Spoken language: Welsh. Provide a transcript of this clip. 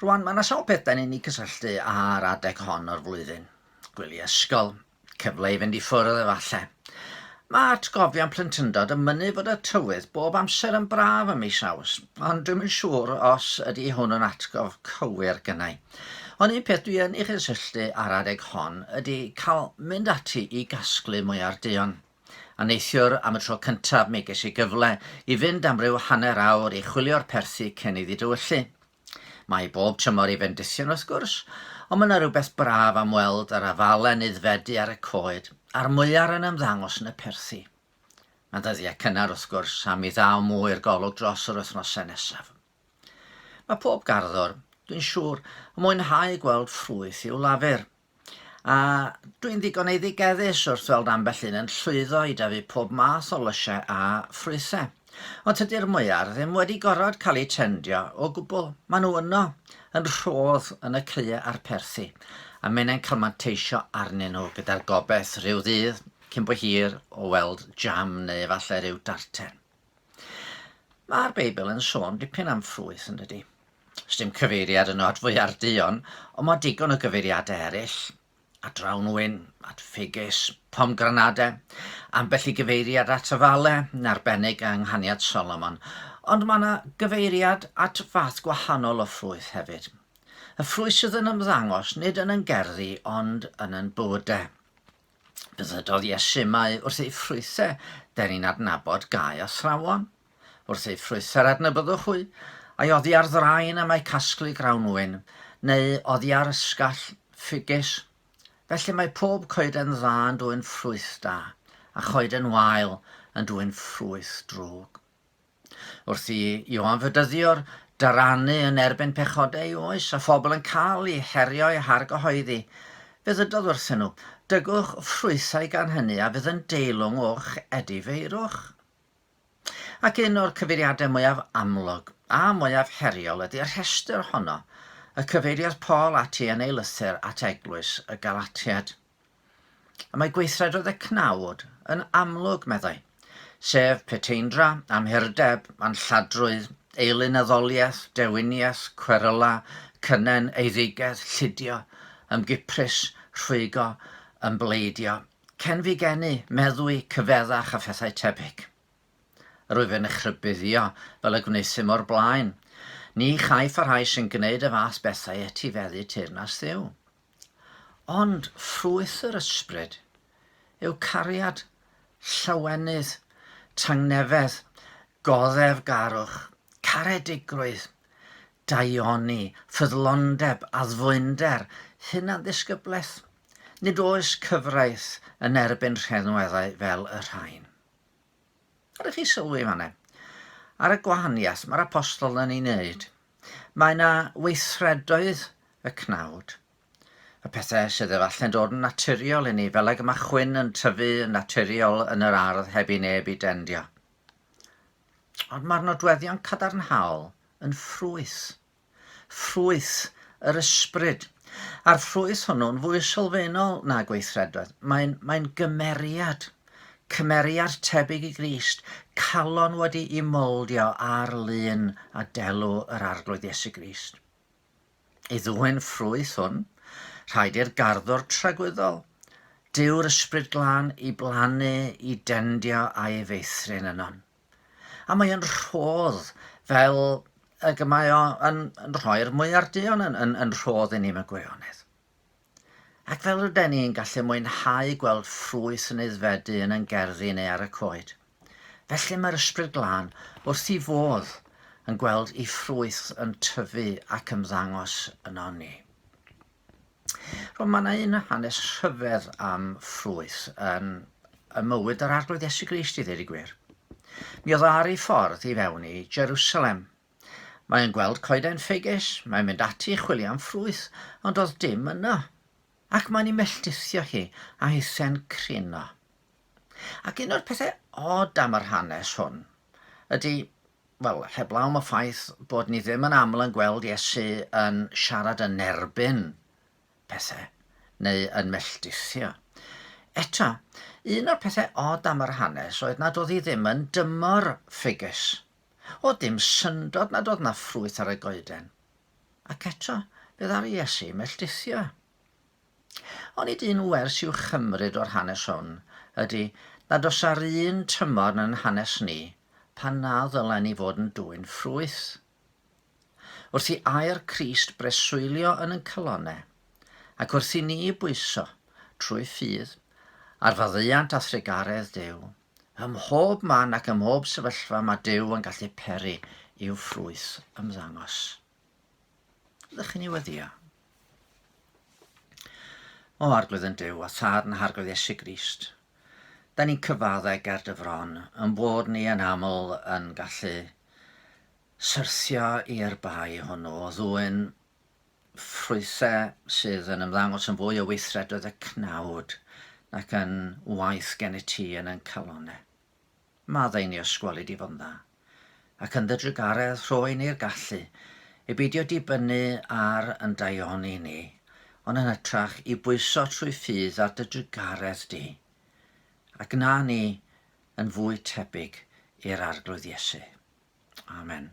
Rwan, mae yna sawl peth da ni'n ei cysylltu â'r adeg hon o'r flwyddyn. Gwely ysgol, cyfle i fynd i ffwrdd efallai. Mae atgofion plentyndod yn mynnu fod y tywydd bob amser yn braf ym mis Awst, ond dwi'n yn siŵr os ydy hwn yn atgof cywir gynnau. Ond un peth dwi yn ei chysylltu â'r adeg hon ydy cael mynd ati i gasglu mwyar duon. A neithiwr, am y tro cyntaf, mi ges i gyfle i fynd am ryw hanner awr i chwilio'r perthi cyn iddi dywyllu. Mae bob tymor i fendithion, wrth gwrs, ond mae yna rywbeth braf am weld yr afalen aeddfedu ar y coed, a'r mwyar yn ymddangos yn y perthi. Mae'n ddyddiau cynnar, wrth gwrs, a mi ddaw mwy i'r golwg dros yr wythnosau nesaf. Mae pob garddwr, dwi'n siŵr, yn mwynhau gweld ffrwyth i'w lafur. A dwi'n ddigon eiddigeddus wrth weld ambell un yn llwyddo i dyfu pob math o lysiau a ffrwythau. Ond tydi'r mwyar ddim wedi gorfod cael eu tendio o gwbl. Maen nhw yno, yn rhodd yn y caeau a'r perthi, a maen nhw'n cael manteisio arnyn nhw gyda'r gobaith rhyw ddydd cyn bo hir o weld jam neu efallai rhyw darten. Mae'r Beibl yn sôn dipyn am ffrwyth, yn dydy? Sdim cyfeiriad yno at fwyar duon, ond mae digon o gyfeiriadau eraill. At drawnwyn, at ffigys, pomgranadau, ambell i gyfeiriad at y fale, yn arbennig yng Nghaniad Solomon, ond mae yna gyfeiriad at fath gwahanol o ffrwyth hefyd. Y ffrwyth sydd yn ymddangos nid yn yn gerddi ond yn yn bywydau. Ddywedodd Iesu mai wrth ei ffrwythau dyn ni'n adnabod gae a thrawon. Wrth ei ffrwythau'r adnabyddwch hwy, ai oddi ar ddraen y mae casglu grawnwyn, neu oddi ar ysgall ffigys. Felly mae pob coeden dda yn dwy'n ffrwyth da, a choeden wael yn dwy'n ffrwyth drwg. Wrth i Ioan Fydyddio'r dyrannu yn erbyn pechod ei oes, a phobl yn cael eu herio eu hargyhoeddi, fe ddydodd wrthyn nhw, Dygwch ffrwythau gan hynny a fydd yn deilwng o'ch edifeirwch. Ac un o'r cyfeiriadau mwyaf amlwg a mwyaf heriol ydy'r rhestr honno y cyfeiriodd Paul ati yn ei lythyr at eglwys y Galatiaid. A mae gweithredoedd y cnawd yn amlwg, meddai, sef peteindra, amhurdeb, anlladrwydd, eilynyddoliaeth, dewiniaeth, cweryla, cynnen, eiddigedd, llidio, ymgiprys, rhwygo, ymbleidio, cenfigenu, meddwi, cyfeddach a phethau tebyg. Rwyf yn eich rhybuddio, fel y gwnaethum o'r blaen, ni chaiff y rhai sy'n gwneud y fath bethau etifeddu teyrnas Dduw. Ond ffrwyth yr ysbryd yw cariad, llawenydd, tangnefedd, goddefgarwch, caredigrwydd, daioni, ffyddlondeb, addfwynder, hunanddisgyblaeth. Nid oes cyfraith yn erbyn rheddweddau fel y rhain. Ydych chi sylwi fan hyn? Ar y gwahaniaeth mae'r apostol yn ei wneud. Mae yna weithredoedd y cnawd. Y pethau sydd efallai'n dod yn naturiol i ni, fel ag y mae chwyn yn tyfu yn naturiol yn yr ardd heb i neb i dendio. Ond mae'r nodweddion cadarnhaol yn ffrwyth Ffrwyth yr ysbryd. A'r ffrwyth hwnnw'n fwy sylfaenol na gweithredoedd. Mae'n, mae'n gymeriad. Cymeriad tebyg i Grist, calon wedi'i moldio ar lun a delw yr Arglwydd Iesu Grist. I ddwyn ffrwyth hwn, rhaid i'r garddwr tragwyddol, Dyw'r Ysbryd Glân, i blannu, i dendio a'i feithrin ynon. A mae o'n rhodd fel y gymau o yn, yn rhoi'r mwyar duon yn, yn, yn rhodd i ni mewn gwirionedd. Ac fel rydyn ni'n gallu mwynhau gweld ffrwyth yn eiddfedu yn ein gerddi neu ar y coed, felly mae'r ysbryd glân wrth i fodd yn gweld i ffrwyth yn tyfu ac ymddangos yno ni. Wel, mae yna un hanes rhyfedd am ffrwyth yn y mywyd yr Arglwydd Iesu Grist i ddweud y gwir. Mi oedd o ar ei ffordd i fewn i Jerusalem. Mae yn gweld coeden ffeges, mae'n mynd ati i chwilio am ffrwyth, ond oedd dim yno. Ac mae'n ei melltithio hi, a hithen crino. Ac un o'r pethau od am yr hanes hwn ydy Wel, heblaw am y ffaith bod ni ddim yn aml yn gweld Iesu yn siarad yn erbyn pethau neu yn melltithio. Eto, un o'r pethau od am yr hanes oedd nad oedd hi ddim yn dymor ffugys. Oedd dim syndod nad oedd 'na ffrwyth ar y goeden. Ac eto, fe ddaru Iesu melltithio. Onid un wers i'w chymryd o'r hanes hwn ydy nad os ar un tymor yn yn hanes ni, pan na ddylen ni fod yn dwyn ffrwyth? Wrth i air Crist breswylio yn yn calonne, ac wrth i ni bwyso, trwy ffydd, ar faddeuant a thrugaredd Duw, ym mhob man ac ym mhob sefyllfa mae Duw yn gallu peri i'w ffrwyth ymddangos. Ydych chi'n ei weddio? O arglwydd yn Duw, a thad yn harglwydd Iesu Grist, da ni'n cyfaddau ger dy fron, yn bod ni yn aml yn gallu syrthio i'r bai hwnnw o ddwy'n ffrwythau sydd yn ymddangos yn fwy o weithredoedd y cnawd nac yn waith gen i ti yn yn calonau. Maddau ni ysgweli di f'yndda, ac yn dy drugaredd rhoi ni'r gallu i beidio dibynnu ar yn daioni ni, ond yn hytrach i bwyso trwy ffydd ar dy drugaredd di, a gna ni yn fwy tebyg i'r Arglwydd Iesu. Amen.